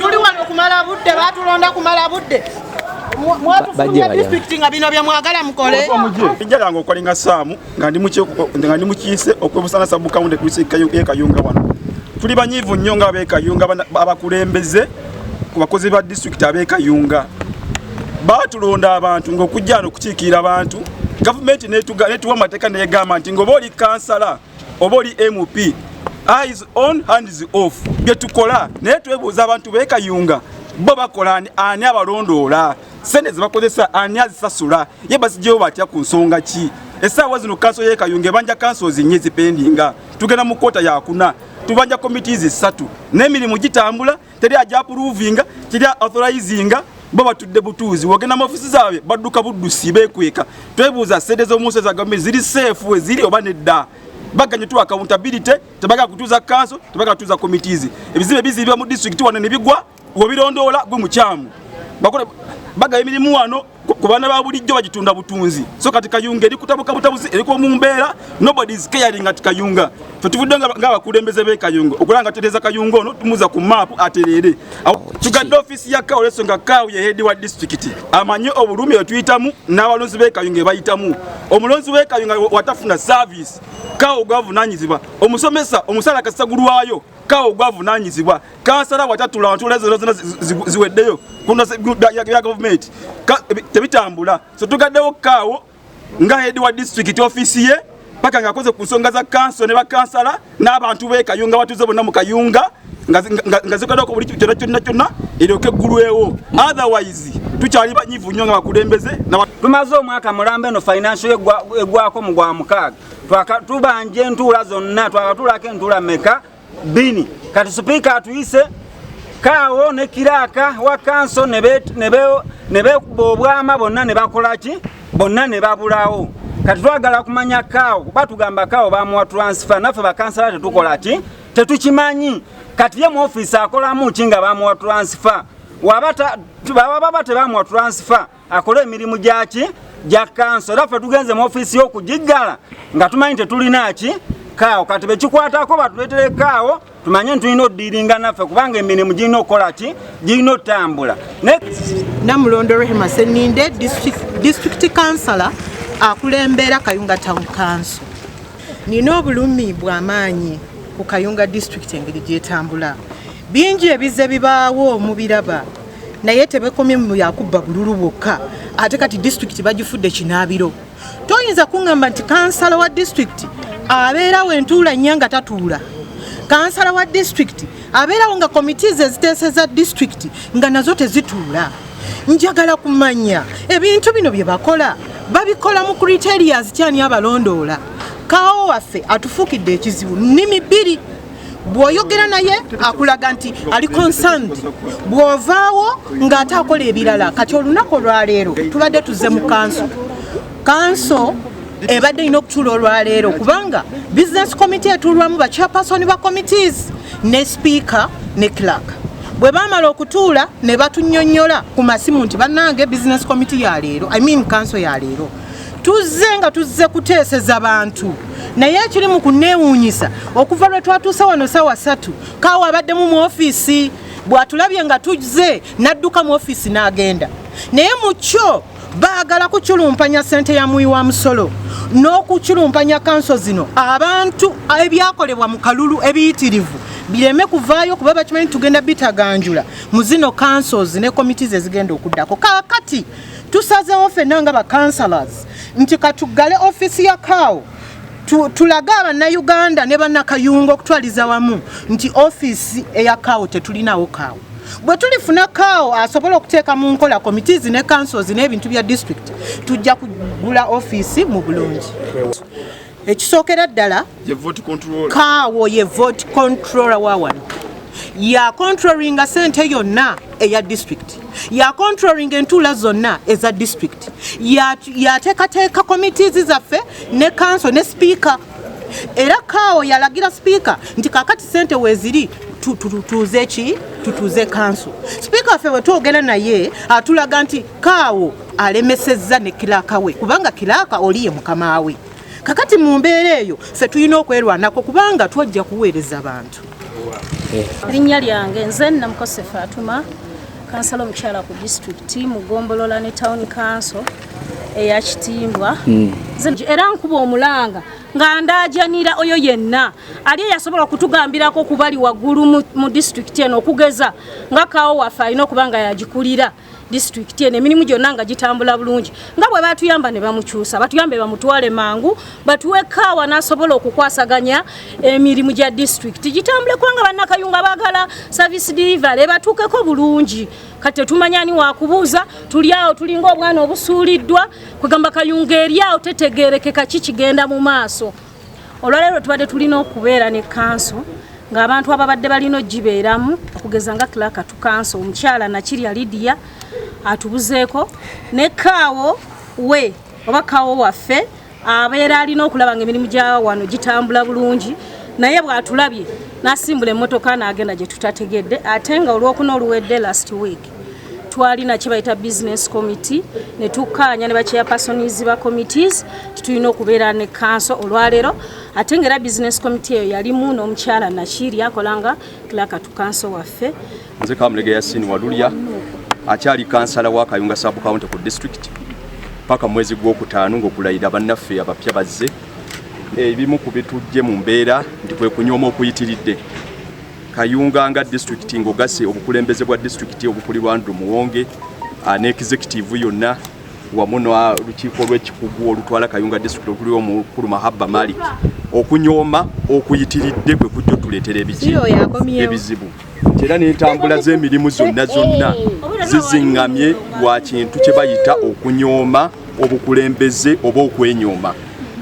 tuli wano kumala budde batulonda kumala budde mwatufulumya disitulikiti nga bino byemwagala mukole ijja lange okolinga saamu nga ndi mukiise okwebusana sabukawunde kuisi yekayunga wano tuli banyiivu nnyo nga abekayunga abakulembeze ku bakozi ba disitulikiti abekayunga baatulonda abantu ngaokujja no okukiikirira abantu gavumenti netuwa amateeka negamba nti ngaoba oli kansala oba oli mp eyes on hands off byetukola naye twebuuza abantu bekayunga bo bakola ani abalondoola sente zebakozesa ani azisasula ye bazigyewo batya ku nsonga ki esaawa zino kanso yekayunga ebanja kanso zinye zipendinga tugenda mu kota yakuna tubanja committees esatu n'emirimu gitambula teri aja approvinga teri authorizinga bo batudde butuuzi wogenda mu ofisi zaabwe badduka buddusi beekweka twebuuza sente z'omunsi eza gavumenti ziri seefu we ziri oba nedda baganye tuwa accountability tebagala kutuuza kanso tebagala kutuuza committees ebizibe bizibwa mu district wano ne bigwa wobirondoola gwe mukyamu bakole bagaba emirimu wano ku baana ba bulijjo bagitunda butunzi so kati kayunga eri kutabuka butabuzi eriko mu mbeera nobody is caring at kayunga fe tuvudde ng'abakulembeze b'e kayunga okulaba nga tutereeza kayunga ono tumuza ku maapu atereere tugadde ofiisi ya kawo leso nga kawo ye heedi wa disitulikiti amanye obulumi etuyitamu n'abalonzi b'e kayunga ebayitamu omulonzi w'e kayunga watafuna saaviisi kawo gwavunanyizibwa omusomesa omusaala kasagulwayo kawo gwavunanyizibwa kansala watatula wantula ezo zona ziweddeyo ya gavumenti tebitambula so tugaddewo kaawo nga head wa district office ye paka nga akoze ku nsonga za kanso ne bakansala n'abantu be kayunga batuze bonna mu kayunga nga zikadako buli kyona kyonna kyonna eryoke eggulwewo otherwise tukyali banyivu nnyo nga bakulembeze tumaze omwaka mulamba eno financial egwako mu gwa mukaaga tubanja entuula zonna twakatuulako entuula meka bini kati sipiika atuyise kaawo ne kiraaka wa kanso ne bekuba obwama bonna ne bakola ki bonna ne babulawo kati twagala kumanya kaawo batugamba kaawo bamuwa transfer naffe bakansala tetukola ki tetukimanyi kati ye mu ofiisi akolamu ki nga bamuwa transfer wababa tebamuwa transfer akole emirimu gyaki gya kanso era ffe tugenze mu ofiisi y'okugiggala nga tumanyi tetulina ki kaawo kati bekikwatako batuleetere kaawo tumanye nti tulina odiringa naffe kubanga emirimu girina okukola ki girina otambula namulondo rehema seninde disitulikiti kansala akulembera kayunga town kanso nina obulumi bwamaanyi ku kayunga disitulikiti engeri gyetambula bingi ebize bibaawo mubiraba naye tebekomye mu yakubba bululu bwokka ate kati disitulikiti bagifudde kinaabiro toyinza kuŋŋamba nti kansala wa disitulikiti abeerawo entuula nnya nga tatuula kansala wa disitulikiti abeerawo nga komiti ze ziteeseza disitulikiti nga nazo tezituula njagala kumanya ebintu bino bye bakola babikola mu criterias kyani abalondoola kaawo waffe atufuukidde ekizibu nnimi bbiri bw'oyogera naye akulaga nti ali concerned bw'ovaawo ng'ate akola ebirala kati olunaku olwaleero tubadde tuzze mu kanso kanso ebadde erina okutuula olwaleero kubanga business committee etuulwamu ba chairperson ba committees ne speaker ne clark bwe baamala okutuula ne batunyonyola ku masimu nti bannange business committee ya leero i mean kanso ya leero tuzze nga tuzze kuteeseza bantu naye ekiri mu kunneewuunyisa okuva lwe twatuuse wano saawa satu kaawa abaddemu mu ofiisi bw'atulabye nga tuzze n'adduka mu ofiisi n'agenda naye mu kyo baagala kuculumpanya ssente ya muwi wa musolo n'okuculumpanya kanso zino abantu ebyakolebwa mu kalulu ebiyitirivu bireme kuvaayo kuba bakimanyi tugenda bitaganjula mu zino kansozi ne komiti ze zigenda okuddako kakati tusazewo fenna nga ba councilors nti katuggale offiisi ya kaawo tulage abannayuganda ne bannakayunga okutwaliza wamu nti offiisi eya kaawo tetulinawo kaawo bwe tulifuna kaawo asobola okuteeka mu nkola committees ne councils n'ebintu bya district tujja kugula offiisi mu bulungi ekisookera ddala kaawo ye vote controller wa wano ya controllinga sente yonna eya district ya controllinga entuula zonna eza district yateekateeka ya committees zaffe ne kanso ne sipiika era kaawo yalagira sipiika nti kakati sente weeziri tutuze ki tutuze kanso sipiika waffe bwe twogera naye atulaga nti kaawo alemesezza ne kilaaka we kubanga kilaaka oli ye mukama we kakati mu mbeera eyo ffe tulina okwerwanako kubanga twajja kuweereza bantu erinnya lyange nze namukosefu atuma kansala omukyala ku disitulikiti mu gombolola ne tawuni kanso eya kitimbwa hmm. era nkuba omulanga nga ndaajanira oyo yenna ali eyasobola okutugambirako kubali waggulu mu disitulikiti eno okugeza nga kaawo waffe alina okuba nga yagikulira disitulikiti eno emirimu gyonna nga gitambula bulungi nga bwe batuyamba ne bamukyusa batuyambe bamutwale mangu batuwe kaawa n'asobola okukwasaganya emirimu gya disitulikiti gitambule kubanga bannakayunga baagala service delivery batuukeko bulungi kati tetumanya ani wakubuuza tuli awo tulinga obwana obusuuliddwa kwegamba kayunga eri awo tetegeerekeka ki kigenda mu maaso olwaleero tubadde tulina okubeera ne kanso ng'abantu ababadde balina ogibeeramu okugeza nga clark tu kanso omukyala nakirya lidiya atubuzeeko ne kaawo we oba kaawo waffe abeera alina okulaba nga emirimu gya wano gitambula bulungi naye bw'atulabye n'asimbula emmotoka n'agenda gye tutategedde ate nga olwokuna oluwedde last week twalina kyebayita business committee ne tukkaanya ne bachairpersons ba committees titulina okubeera ne kanso olwaleero ate ngaera business committee eyo yalimu n'omukyala nakiiri akola nga clark to kanso waffe nze kamulega yasini walulya akyali kansala wa kayunga subcounty ku district paka mwezi gw'okutaano ng'okulayira bannaffe abapya bazze ebimu ku bitujje mu mbeera nti kwe kunyooma okuyitiridde Kayunga nga disitulikiti ng'ogasse obukulembeze bwa disitulikiti obukulirwa Andrew Muwonge ah, ne executive yonna wamu n'olukiiko lw'ekikugu olutwala Kayunga disitulikiti okuli omukulu Mahabba Malik okunyooma okuyitiridde kwe kujja otuleetera ebiki ebizibu nti era n'entambula z'emirimu zonna zonna zizingamye lwa kintu kye bayita okunyooma obukulembeze oba okwenyooma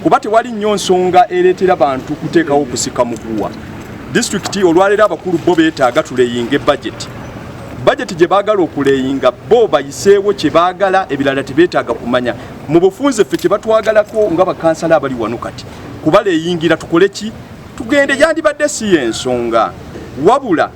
kuba tewali nnyo nsonga ereetera bantu kuteekawo kusika muguwa disitulikiti olwaleero abakulu bo beetaaga tuleyinge bajeti bajeti gye baagala okuleyinga bo bayiseewo kye baagala ebirala tebeetaaga kumanya mu bufunze ffe kye batwagalako nga bakansala abali wano kati kubaleyingira tukole ki tugende yandibadde si y'ensonga wabula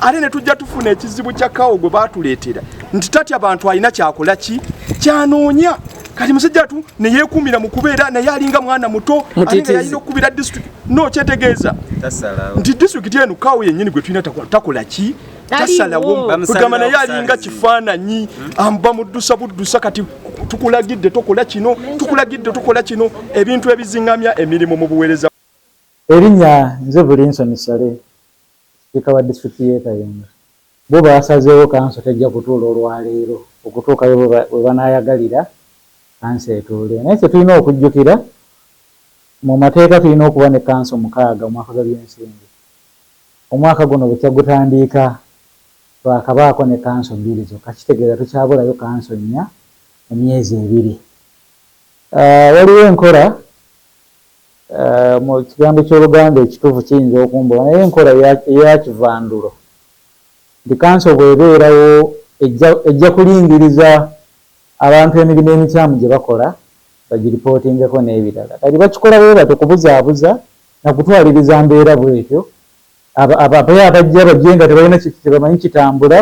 ate ne tujja tufuna ekizibu kya kawo gwe baatuleetera nti tatya bantu alina kyakola ki kyanoonya kati musajja atu ne yeekuumira mu kubeera naye alinga mwana muto alinga yalina okukubira disitulikiti no kyetegeeza nti disitulikiti eno kawo yennyini gwe tulina takola ki tasalawo kugamba naye alinga kifaananyi amba muddusa buddusa kati tukulagidde tokola kino tukulagidde tokola kino ebintu ebizingamya emirimu mu buweereza erinnya nze bulinsoni sale Sipiika wa disitulikiti y'e Kayunga bo baasazeewo kanso tejja kutuula olwaleero okutuukayo we banaayagalira kanso etuule naye kye tulina okujjukira mu mateeka tulina okuba ne kanso mukaaga omwaka gwa byensimbi omwaka guno bukya gutandiika twakabaako ne kanso bbiri zokka kitegeeza tukyabulayo kanso nnya mu myezi ebiri waliwo enkola Mu kigambo ky'Oluganda ekituufu kiyinza okumbula, naye enkola eya kivandulo nti kanso bw'ebeerawo ejja kulingiriza abantu emirimu emikyamu gye bakola bagiripootingeko n'ebirala. Kati bakikola bwe batyo kubuzaabuza na kutwaliriza mbeera bw'etyo, abape abajja bajje nga tebalina kintu kye bamanyi kitambula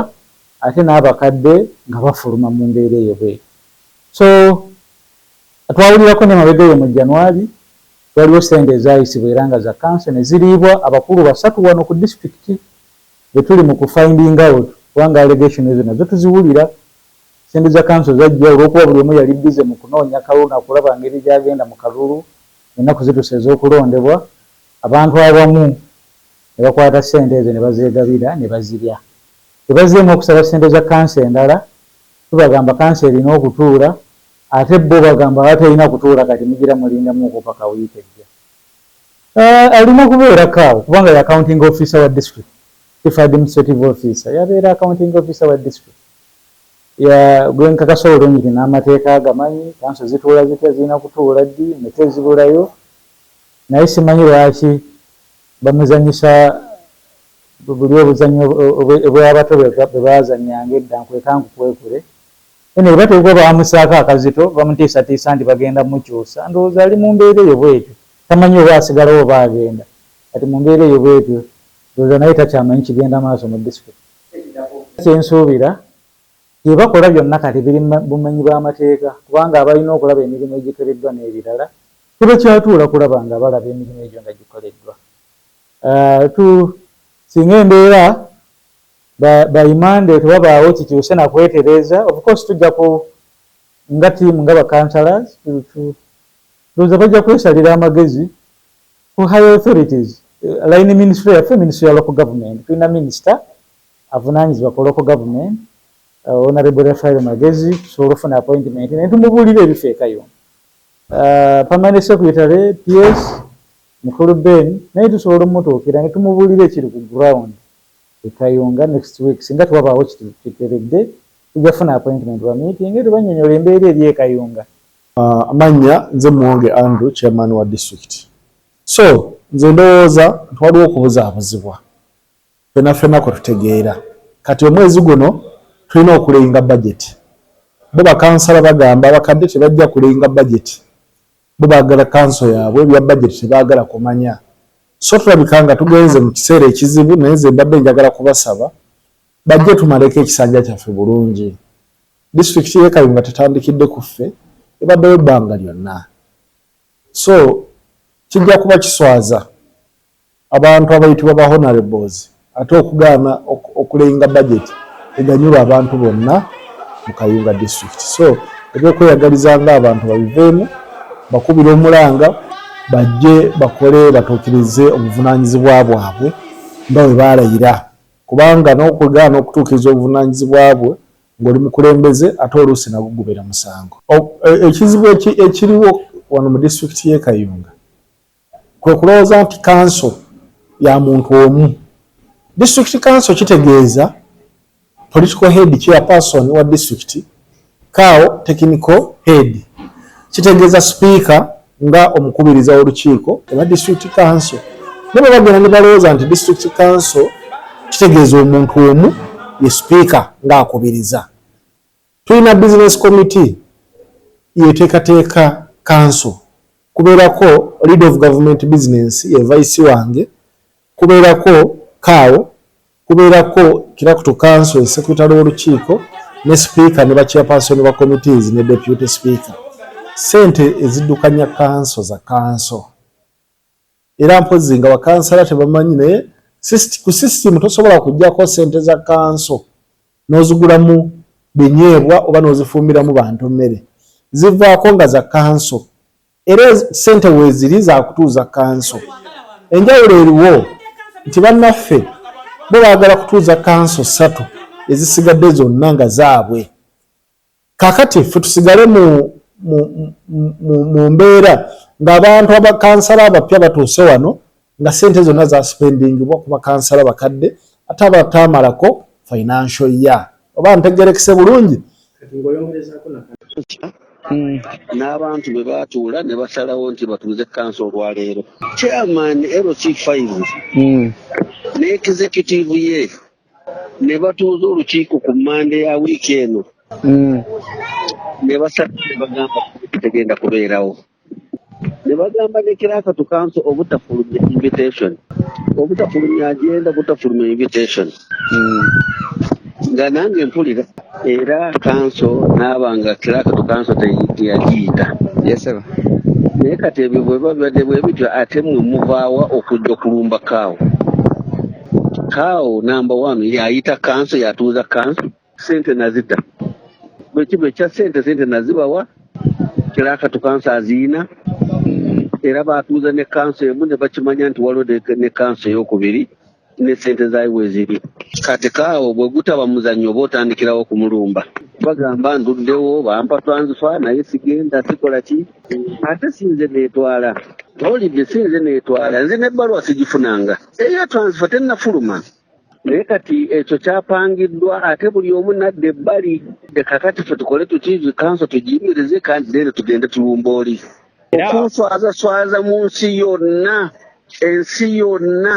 ate n'abakadde nga bafuluma mu mbeera eyo bw'etyo. So Twawulirako n'emabega eyo mu January, waliwo ssente ezaayisibwa era nga za kanso ne ziriibwa abakulu basatu wano ku disitulikiti be tuli mu ku finding out kubanga allegation ezo nazo tuziwulira. Ssente za kanso zajja olw'okuba buli omu yali bbize mu kunoonya kalulu na kulaba ngeri gy'agenda mu kalulu ng'ennaku zituuse ez'okulondebwa, abantu abamu ne bakwata ssente ezo ne bazeegabira ne bazirya. Bwe bazzeemu okusaba ssente za kanso endala, Tubagamba kanso erina okutuula ate bo bagamba abaterina kutuula kati mugira mulinda mu kupaka week ejja aah alina kubeera ko awo kubanga ya counting officer wa district chief administrative officer yabeera counting officer wa district ya gwenkakasa olungi namateeka agamanyi kanso zituula zitya zirina kutuula ddi nga tezibulayo naye simanyi lwaki bamuzanyisa Buli obuzannyo obw'abato bwe baazannyanga edda nkweka nkukwekule, Henry bwe bateekwa baamusaako akazito, bamutiisatiisa nti bagenda mukyusa. Ndowooza ali mu mbeera eyo bw'etyo, tamanyi oba asigalawo oba agenda. Kati mu mbeera eyo bw'etyo, ndowooza naye takyamanyi kigenda maaso mu disitulikiti. Kye nsuubira, bye bakola byonna kati biri mu bumenyi bw'amateeka kubanga abalina okulaba emirimu egikoleddwa n'ebirala tebakyatuula kulaba nga balaba emirimu egyo nga gikoleddwa. Singa embeera by Monday tewabaawo kikyuse na kwetereeza, of course tujja ku nga team nga ba councillors ndowooza bajja kwesalira amagezi ku higher authorities line ministry yaffe ministry ya local government tulina minister avunaanyizibwa ku local government Honourable Raphael Magezi tusobola ofuna appointment naye tumubuulira ebifeekayo Permanent secretary, PS, Mukulu Ben naye tusobola omutuukira ne tumubuulira ekiri ku ground e Kayunga next week singa tewabaawo kiteredde tujja kufuna appointment bamiitinge tubannyonyole embeera eri e Kayunga. Amannya, Nze Muwonge Andrew Chairman wa District. So nze ndowooza nti waliwo okubuzaabuzibwa ffena ffena kwe tutegeera. Kati omwezi guno tulina okulayinga budget. Bo bakansala bagamba abakadde tebajja kulayinga budget. Bo bagala kanso yabwe ebya budget tebagala kumanya so tulabika nga tugenze mu kiseera ekizibu naye nze mbadde njagala kubasaba bajje tumaleko ekisanja kyaffe bulungi. Disitulikiti y'e Kayunga tetandikidde ku ffe ebaddewo ebbanga lyonna so kijja kuba kiswaza. Abantu abayitibwa ba Honourables ate okugaana okulayinga budget eganyula abantu bonna mu Kayunga district so ebyokweyagaliza nga abantu babiveemu bakubire omulanga bajje bakole batuukirize obuvunanyizibwa bwabwe nga bwe baalayira kubanga n'okugaana okutuukiriza obuvunanyizibwa bwe ng'oli mukulembeze ate oluusi nagwo gubeera musango. E, ekizibu ekiriwo wano mu disitulikiti y'e Kayunga kwe kulowooza nti kanso ya muntu omu. Disitulikiti kanso kitegeeza political head chairperson wa disitulikiti kao technical head kitegeeza sipiika nga omukubiriza w'olukiiko oba disitulikiti kanso ne bwe bagenda ne balowooza nti disitulikiti kanso kitegeeza omuntu omu ye sipiika ng'akubiriza. Tulina business committee yeteekateeka kanso, kubeerako leader of government business ye vice wange, kubeerako cow, kubeerako clerk to council ye secretary w'olukiiko ne speaker ne ba chairperson ba committees ne deputy speaker. Ssente eziddukanya kanso za kanso. era mpozi nga bakansala tebamanyi naye ku system tosobola kujjako sente za kanso nozigulamu binyeebwa oba nozifumbiramu bantu mmere zivaako nga za kanso era sente weziri zakutuuza kanso enjawulo eriwo nti bannaffe bo baagala kutuuza kanso ssatu ezisigadde zonna nga zaabwe Kakati ffe tusigale mu mu mbeera ng'abantu abakansala abapya batuuse wano nga sente zonna zasipendingibwa ku bakansala bakadde ate abataamalako financial year oba ntegerekese bulungi Mm. n'abantu bwe baatuula ne basalawo nti batuuze kansa olwaleero chairman LC5 mm. ne executive ye ne batuuza olukiiko ku mmande ya wiiki eno mm. ne basatu ne bagamba tegenda kubeerawo ne bagamba ne kirakatu kanso obutafulumya invitation obutafulumya agenda butafulumya invitation mm. nga nange mpulira era kanso n'aba nga kirakatu kanso teyagiyita yeseba naye kati ebyo bweba bibadde bwe bityo ate mwe muvaawa okujja okulumba kaawo kaawo namba wanu yayita kanso yatuuza kanso sente nazita bwekiba ekya sente sente nazibawa kirakatu kanso aziina era batuuza ne kanso emu ne bakimanya nti waliwo ne kanso eyokubiri ne sente zayi weziri kati kaawo bwe gutaba muzannyo oba otandikirawo kumulumba bagamba nduddewo bampa twanzifa naye sigenda sikola ki ate sinze netwala olidde sinze netwala nze nebbaluwa sigifunanga eyo twanzifa tennafuluma naye kati ekyo kyapangiddwa ate buli omu nadda ebbali leka kati fe tukole tuki kanso tugiyimirize kandi then tugende tulumba oli okunswazaswaza mu nsi yonna ensi yonna